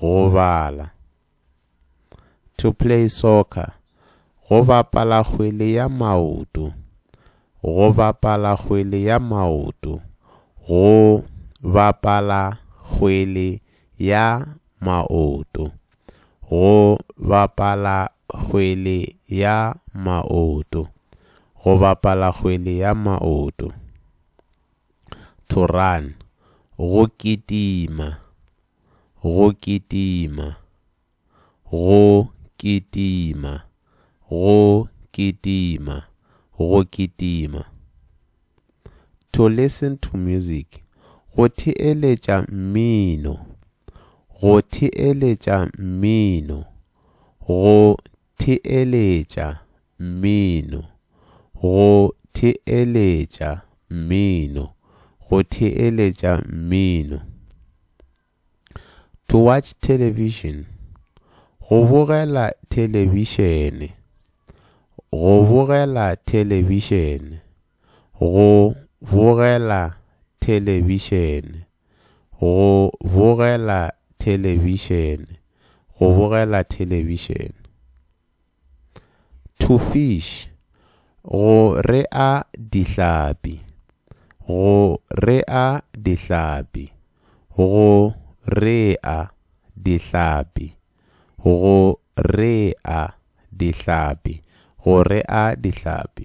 go bala. To play soccer, go bapala kgwele ya maoto. Go bapala kgwele ya maoto. Go bapala kgwele ya maoto. Go bapala kgwele ya maoto. Go bapala kgwele ya maoto. To run, go kitima. go kitima, go kitima, go kitima, go kitima. To listen to music, go theeletša mmino, go theeletša mmino, go Theeletša mmino. Go theeletša mmino. Go theeletša mmino. To watch television. Go bogela thelebišene. Go bogela thelebišene. Go bogela thelebišene. Go bogela thelebišene, go bogela thelebišene. To fish, go rea dihlapi, go rea dihlapi, go rea dihlapi, go rea dihlapi, go rea dihlapi.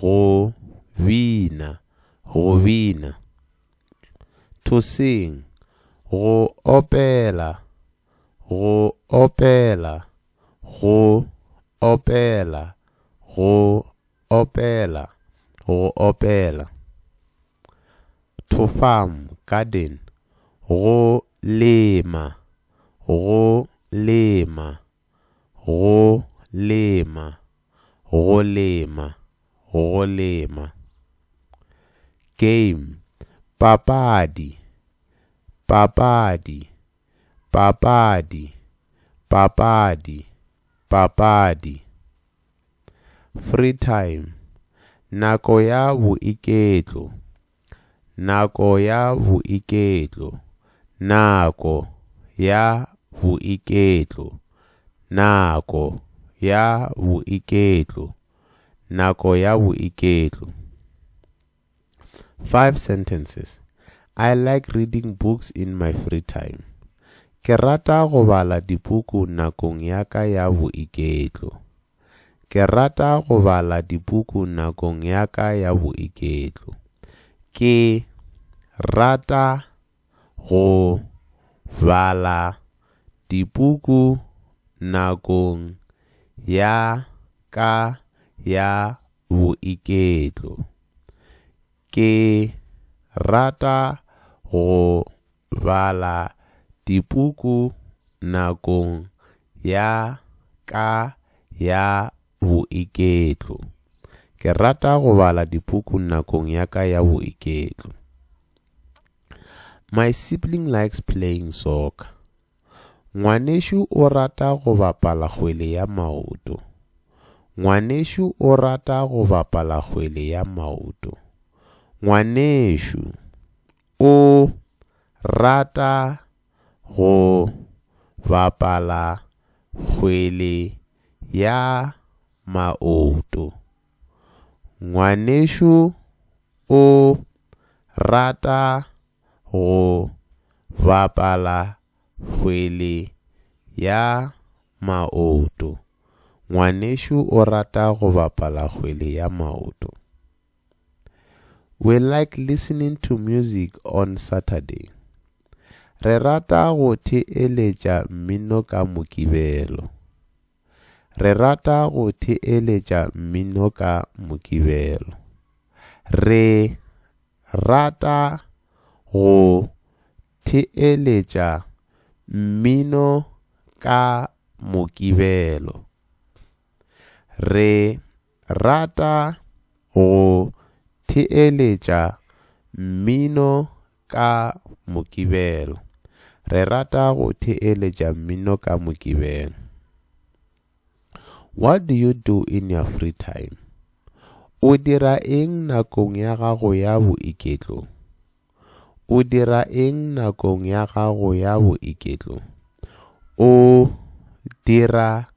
Go bina, go bina. To sing, go opela, go opela, go opela, go opela, go opela. To farm, garden, go lema, go lema, Go lema, go lema, go lema. Game, papadi, papadi, papadi, papadi, papadi. Free time, nako ya boiketlo, Nako ya boiketlo Nako ya boiketlo Nako ya boiketlo Nako ya boiketlo 5 sentences I like reading books in my free time Ke rata go bala dipuku nakong ya ka ya boiketlo Ke rata go bala dipuku nakong ya ka ya boiketlo. Ke rata go bala dipuku nakong ya ka ya boiketlo. Ke rata go bala dipuku nakong ya ka ya boiketlo. Ke rata go bala dipuku nakong ya ka ya boiketlo. My sibling likes playing soccer. Ngwanešu o rata go bapala kgwele ya maoto. Ngwanešu o rata go bapala kgwele ya maoto. Ngwanešu. O rata go bapala kgwele ya maoto. Ngwanešu o rata go bapala kgwele ya maoto. Ngwanešu o rata go bapala kgwele ya maoto. We like listening to music on Saturday. Re rata go theeletša mmino ka Mokibelo. Re rata go theeletša mmino ka Mokibelo. Re rata go theeletša mmino ka Mokibelo. Re rata go theeletša mmino ka Mokibelo. Re rata go theeletša mmino ka Mokibelo. What do you do in your free time? O dira eng nakong ya gago ya boiketlo? O dira eng nakong ya gago ya boiketlo? O dira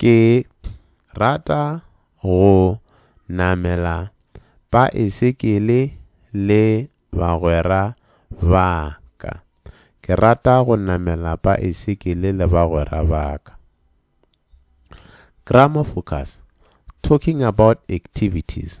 Ke rata go namela paesekele le bagwera ba ka. Ke rata go namela paesekele le bagwera ba ka. Grammar focus, Talking about activities.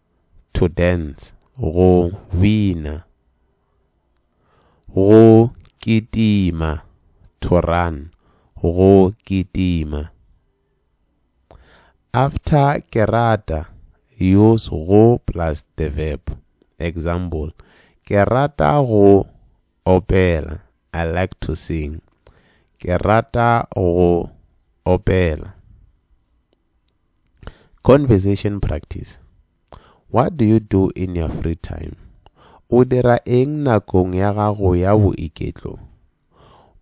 to dance, go bina, go kitima, to run, go kitima. After ke rata, use go plus the verb. Example, Ke rata go opela, I like to sing. Ke rata go opela. Conversation practice. What do you do in your free time? O dira eng nakong ya gago ya boiketlo?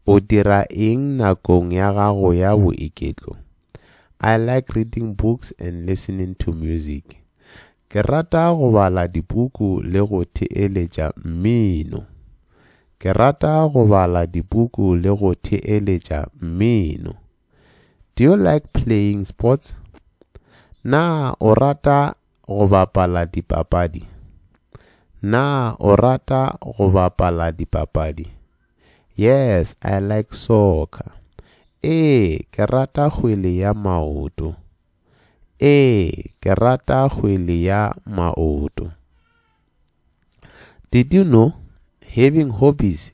O dira eng nakong ya gago ya boiketlo? I like reading books and listening to music. Ke rata go bala dipuku le go theeletša mmino. Ke rata go bala dipuku le go theeletša mmino. Do you like playing sports? Na o rata go bapala dipapadi? Na o rata go bapala dipapadi? Yes, I like soccer. Ee, ke rata kgwele ya maoto. Ee, ke rata kgwele ya maoto. Did you know having hobbies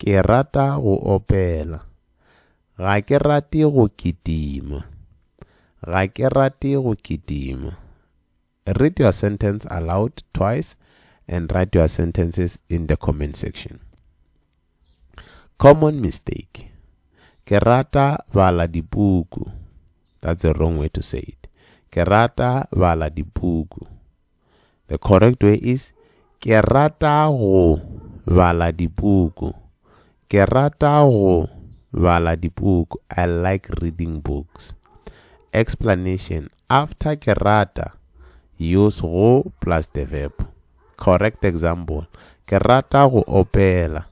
Ke rata go opela. Ga ke rate go kitima. Ga ke rate go kitima. Read your sentence aloud twice and write your sentences in the comment section. Common mistake. Ke rata bala dipuku. That's a wrong way to say it. Ke rata bala dipuku. The correct way is Ke rata go bala dipuku. Ke rata go bala dipuku. I like reading books. Explanation After ke rata, use go plus the verb. Correct example Ke rata go opela.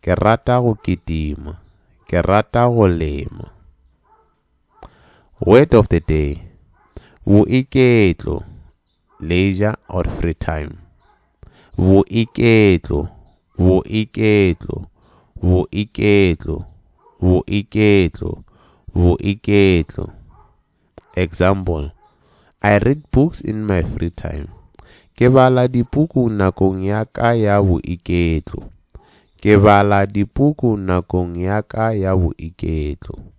Ke rata go kitima. Ke rata go lema. Word of the day, Boiketlo, leisure or free time. Boiketlo, boiketlo, boiketlo, boiketlo, boiketlo. Example, I read books in my free time. Ke bala dipuku nakong ya ka ya boiketlo. Ke bala dipuku nakong ya ka ya boiketlo.